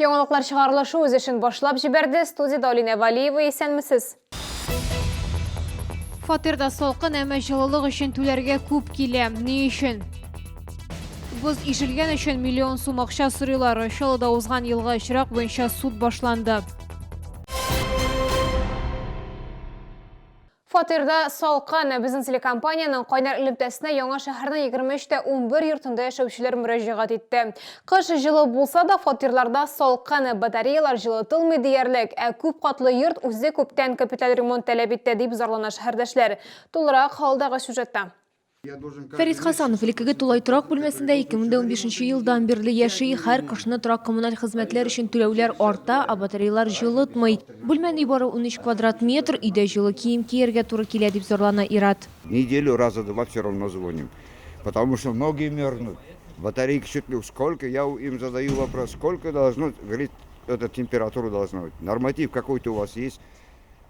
Яңалыклар чыгарылышы үз эшен башлап җибәрде. Студиядә Алинә Валиева, исәнмесез? Фатирда салкын, әмма җылылык өчен түләргә күп килә. Ни өчен? Боз ишелгән өчен миллион сум акча сорыйлар. Чаллыда узган елга очрак буенча суд башланды. Фатирда салкын. Безнең телекомпаниянең кайнар элемтәсенә Яңа шәһәрнең 23 тә 11 йортында яшәүчеләр мөрәҗәгать итте. Кыш җылы булса да, фатирларда салкын, батареялар җылытылмый диярлек, ә күп катлы йорт үзе күптән капиталь ремонт таләп итә, дип зарлана шәһәрдәшләр. Тулырак алдагы сюжетта. Фәрит Хасанов элеккеге тулай торак бүлмәсендә 2015 елдан бирле яши. Һәр кышны торак-коммуналь хезмәтләр өчен түләүләр арта, ә батареялар җылытмый. Бүлмәнең нибары 13 квадрат метр, өйдә җылы кием кияргә туры килә, дип зарлана Ират. Неделю раза два все равно звоним, потому что ноги мерзнут, батарейки чуть ли сколько, я им задаю вопрос, сколько должно, говорит, это температура должна быть, норматив какой-то у вас есть?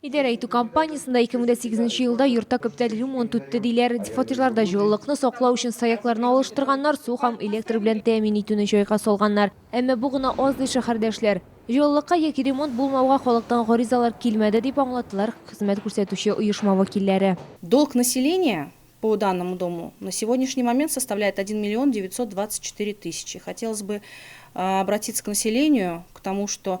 Идарә итү компаниясендә 2008 елда йортта күптән ремонт үтте диләр. Фатирларда җылылыкны саклау өчен саякларны алыштырганнар, су һәм электр белән тәэмин итүне җайга салганнар. Әмма бу гына аз ди шәһәрдәшләр. Җылылыкка яки ремонт булмауга халыктан гаризалар килмәде, дип аңлаттылар хезмәт күрсәтүче оешма вәкилләре. Долг населения по данному дому на сегодняшний момент составляет 1 миллион 924 тысячи. Хотелось бы обратиться к населению, к тому, что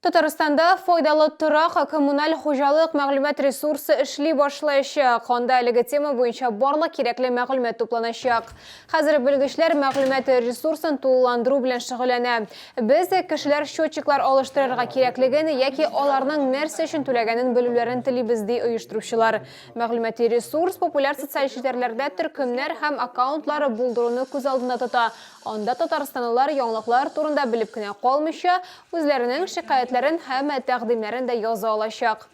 Татарстанда файдалы торак коммуналь хуҗалык мәгълүмат ресурсы эшли башлаячак. Анда әлеге тема буенча барлык кирәкле мәгълүмат тупланачак. Хәзер белгечләр мәгълүмат ресурсын тулыландыру белән шөгыльләнә. Без, кешеләр счетчиклар алыштырырга кирәклеген яки аларның нәрсә өчен түләгәнен белүләрен телибез, ди оештыручылар. Мәгълүмати ресурс популяр социаль челтәрләрдә төркемнәр һәм аккаунтлар булдыруны күз алдында тота. Анда татарстанлылар яңалыклар турында белеп кенә калмыйча, Үзләренең шикаятьләрен һәм тәкъдимнәрен дә яза алачак.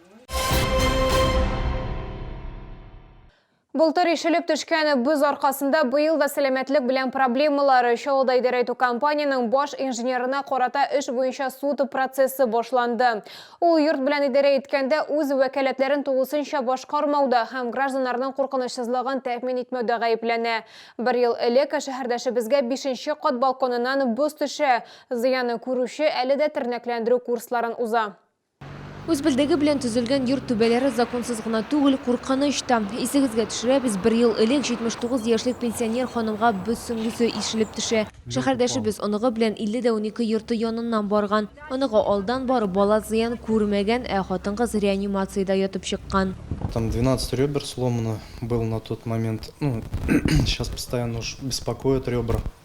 Былтыр ишелеп төшкән боз аркасында быел да сәламәтлек белән проблемалар. Чаллыда идарә итү компаниянең баш инженерына карата эш буенча суд процессы башланды. Ул йорт белән идарә иткәндә үз вәкаләтләрен тулысынча башкармауда һәм гражданнарның куркынычсызлыгын тәэмин итмәүдә гаепләнә. Бер ел элек шәһәрдәшебезгә бишенче кат балконыннан боз төшә, Зыянны күрүче әле дә тернәкләндерү курсларын уза. Үз белдеге белән төзелгән йорт түбәләре законсыз гына түгел, куркыныч та. Исегезгә төшерәбез, бер ел элек 79 яшьлек пенсионер ханымга боз сөңгесе ишелеп төшә. Шәһәрдәшебез оныгы белән 50 дә унике йорты яныннан барган. Оныгы алдан барып, бала зыян күрмәгән, ә хатын-кыз реанимациядә ятып чыккан. Там 12 ребер сломано был на тот момент, ну, сейчас постоянно уж беспокоят ребра.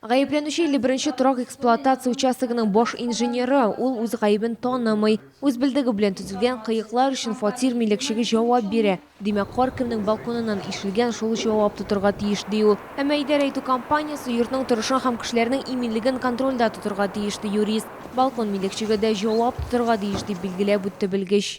Гаепләнүче 51 торак эксплуатация участогының баш инженеры, ул үз гаебен танымый. Үз белдеге белән төзелгән кыеклар өчен фатир милекчеге җавап бирә. Димәк, кар кемнең балконыннан ишелгән, шул җавап тотырга тиеш, ди ул. Әмма идарә итү компаниясе йортның торышын һәм кешеләрнең иминлеген контрольдә тотырга тиеш, ди юрист. Балкон милекчеге дә җавап тотырга тиеш, дип билгеләп үтте белгеч.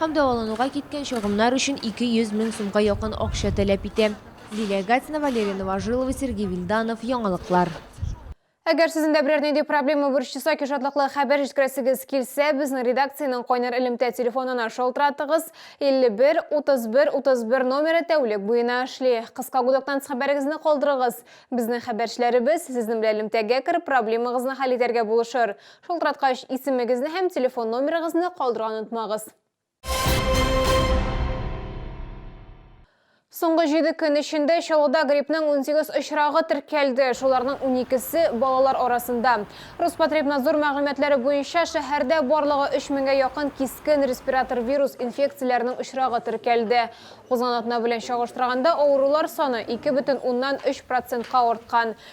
Һәм дәвалануга киткән чыгымнар өчен 200 мең сумга якын акча таләп итә. Лилия Гатина, Валерий Новожилов, Сергей Вильданов, Яңалыклар. Әгәр сезнең дә берәр нинди проблема борчыса, ки шатлыклы хәбәр җиткерәсегез килсә, безнең редакциянең кайнар элемтә телефонына шалтыратыгыз, 51 31 31 номеры тәүлек буена эшли. Кыска гудоктанс хәбәрегезне калдырыгыз. Безнең хәбәрчеләребез сезнең белән элемтәгә кереп проблемагызны хәл итәргә булышыр. Шылтыраткач, исемегезне һәм телефон номерыгызны калдырырга онытмагыз. Соңгы 7 көн эчендә Чаллыда гриппның 18 очрагы теркәлде. Шуларның 12-се балалар арасында. Роспотребнадзор мәгълүматлары буенча, шәһәрдә барлыгы 3000гә якын кискен респиратор вирус инфекцияләренең очрагы теркәлде. Узган атна белән чагыштырганда авырулар саны 2,3 процентка арткан.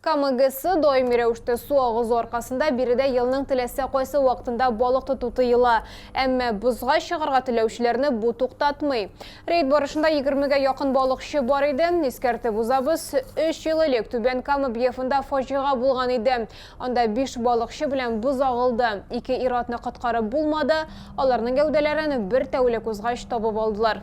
Кама ГЭС даими рәвештә су агызу аркасында биредә елның теләсә кайсы вакытында балык тоту тыела. Әмма бозга чыгарга теләүчеләрне бу туктатмый. Рейд барышында егермегә якын балыкчы бар иде. Искәртеп узабыз, өч ел элек Түбән Кама Бьефында фаҗига булган иде. Анда биш балыкчы белән боз агылды. Ике ир-атны коткарып булмады, аларның гәүдәләрен бер тәүлек узгач табып алдылар.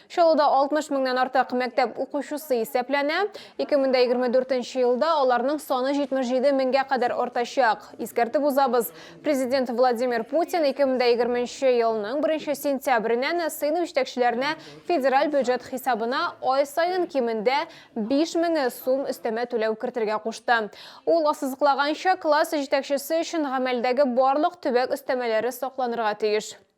Чаллыда 60 меңнән артык мәктәп укучысы исәпләнә. 2024 нче елда аларның саны 77 меңгә кадәр артачак. Искәртеп узабыз, Президент Владимир Путин 2020 нче елның 1 сентябреннән сыйныф җитәкчеләренә федераль бюджет хисабына ай саен кимендә 5 меңе сум өстәмә түләү кертергә кушты. Ул ассызыклаганча, класс җитәкчесе өчен гамәлдәге барлык төбәк өстәмәләре сакланырга тиеш.